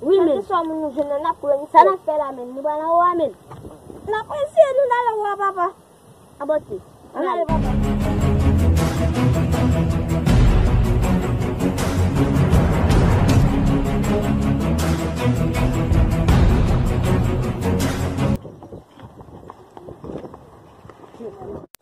Wi men. Kèlkeswa moun nou jwenn nan nap pran li. Sa nap fè la menm? Nou pral anwo a menm? Nap eseye nou nal anwo a papa. An bon ti. Ann ale papa.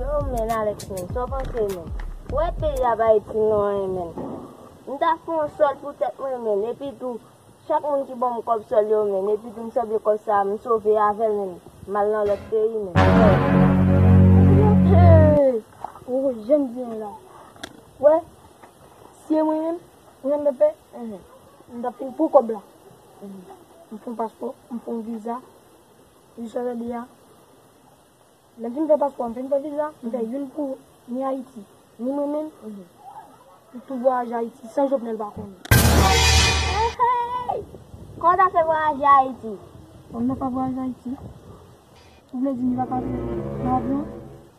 Yo men Alex men, sa w panse men? Ou wè peyi a pa itil nou anyen men. M ta fè yon sòl pou tèt mwen men, epi tou, chak moun ki ban m kòb sòl yo men, epi tou m sanble kòb sa a m sove avè l men, m al nan lòt peyi men. Ou wè jan m byen la? Ou wè? Si se mwen menm, mwen menm Pèpè, m ta fin pran kòb la. M fon paspò, m fon viza, jiska jodi a. Lè m fin fè paspò, m fin fè viza, m fè youn pou ni Ayiti, ni mwen menm, m tou vwayaje Ayiti san Jovenel pa konnen. Eeyy! Kòman w ta fè vwayaje Ayiti? Bon, m nan pa vwayaje Ayiti. Ou vle di m li pa pase nan avyon?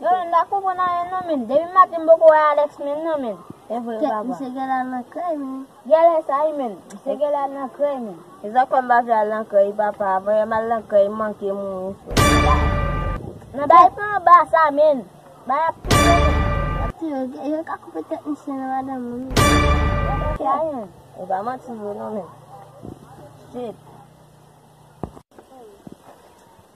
Yo menm pa konprann anyen non menn depi maten m poko wè Alex menm non menn evre wi papa. Misye genlè al nan krèy menn. Genlè sa wi menn misye genlè al nan krèy menn. Mezanmi kòm m pa vle al nan krèy wi papa avan yè m al nan krèy m manke mouri frèt. Nan bay pen anba sa menn. Bay ap touye nou. Yap touye ok yo ka koupe tèt misye nan madanm li menn. Genlè sa wi menn. E pa manti vre non menn. Shit.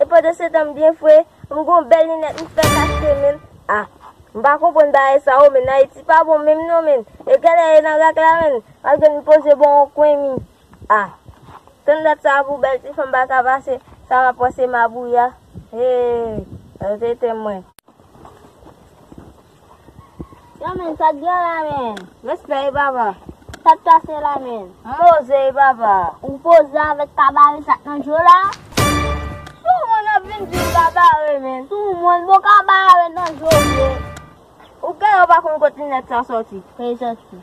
E pandan se tan m byen fre, m gon bèl linèt m fèk achte menn. Ah. M pa konprann bagay sa oh menn Ayiti pa bon menm non menn. E kèlè e nan rak la menn. Wap jwenn m poze bò yon kwen mi. Ah. Tann dat sa pou bèl ti fanm paka pase sa map pran se mabouya. Hee. Yo te etenm mwen. Yo menn sa gen la menn. Respè wi papa. Sak pase la menn. M poze wi papa. Ou poze avek kabare sak nan djo la. Sou moun ap vin di l kabare menn. Sou moun bon kabare nan djo vre. Ou gen yon pa konn kot linèt sa soti. Prezan ti.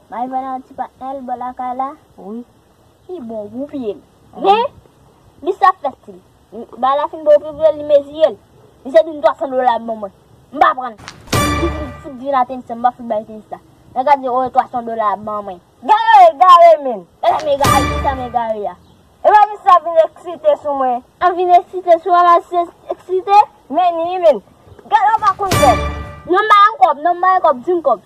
May vann an ti pa el bò lakay la wi. Li bon gou piyel. Men Li sa fèt si Bay la fin bon piyel li meziyel. Li se dim 300 dola bon mwen. M pa prann. Li fin fout vin a tenis lan m pa fout bay tenis la. Nèg la di oe 300 dola ban mwen. Gade egare menn. Gade m egare gade kijan m egare a. Epa misye ap vin eksite sou mwen. Ap vin eksite sou mwen map si eksite. Menn ui menn. Gadon pa konn kob. Non m balanw kob non m balanw kob dim kob.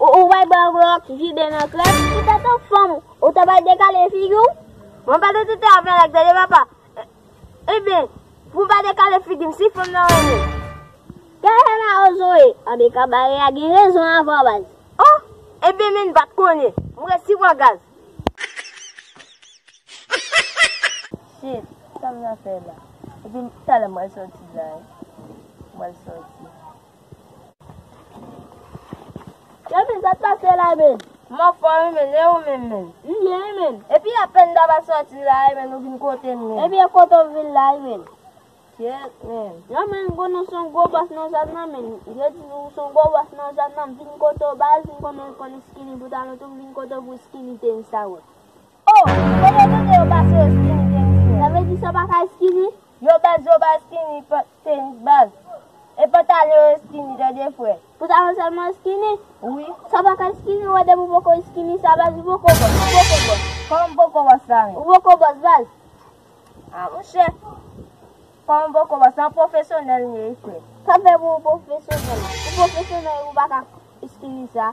Ou bay bwa vre wap jide nan krèm. Ou ta tou fanm ou ta bay dekale figi w. Mwen pa tete te avèl ak tete papa. Ebyen pou pa dekale figi m si fanm nan renmen m. Kè fè mal o zoe. Anbe kabare a gen rezon avan baz. Oh ebyen menn pat konnen. M resi pran gaz. Shit sa m nan fè la. Ebyen talè m pral soti la. M pral soti. Kevin sa k pase la men? M anfòm wi menn, e ou menm menn? M byen wi menn. Epi apèn m ta va sòti la e menn ou vin kote m menn. Ebyen kote w vin la wi menn? Kyèt menn. Yo menn konn ou s on gwo bòs nan zòn nan menn. Yo di ou s on gwo bòs nan zòn nan. M vin kote w baz, m konnen ou konn iskini boutalon tou, m vin kote w pou iskini tenis a wè. Oh! Kote tete yo pase yo skinny gen di men. Sa vle di sa pa ka skinny? Yo baz yo pa skinny pant tenis baz e pantalon yo skinny tande frè. Pantalon selman skinny? Wi. Sa pa ka skinny wè depi w poko skinny sa baz ou poko bòs ou poko bòs. Kòman m poko bòs la menm? Ou poko bòs baz. Ah monchè Kòman m poko bòs la m pwofesyonèl m ye wi frè. Sa fè pou ou pwofesyonèl? Ou pwofesyonèl ou pa ka skinny sa?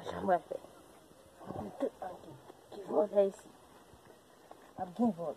Ajan mwen fè. Mwen tout an ki. Ki vòl fè isi. Ap gen vòl.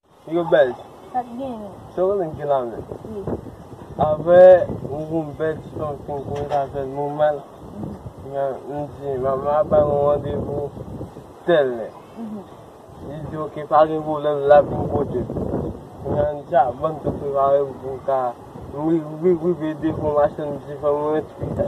Yo bèlj. Sa k genyen? Sa w renmen k gen nan men w? Wi. Aprè m di m bèlj m santi m kòm sa fè m nòmal. M di manman an ba m yon randevou tèl lè. Li di ok pa gen pwoblèm l ap vin pote m. Kounya m di a ban m tou prepare m pou m ka rive devan machann m di fò m rantre pi ta.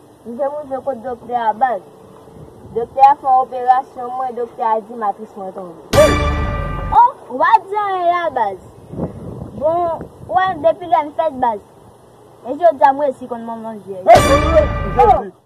M te rive kot doktè a baz. Doktè a fè operasyon mwen doktè a di matris mwen tonbe. Woy! Oh! Ou pa di anyen la baz. Bon, ou wè m depi lè m fèt baz. E jodi a m resi konn manman vyèj. Woy! Jezi!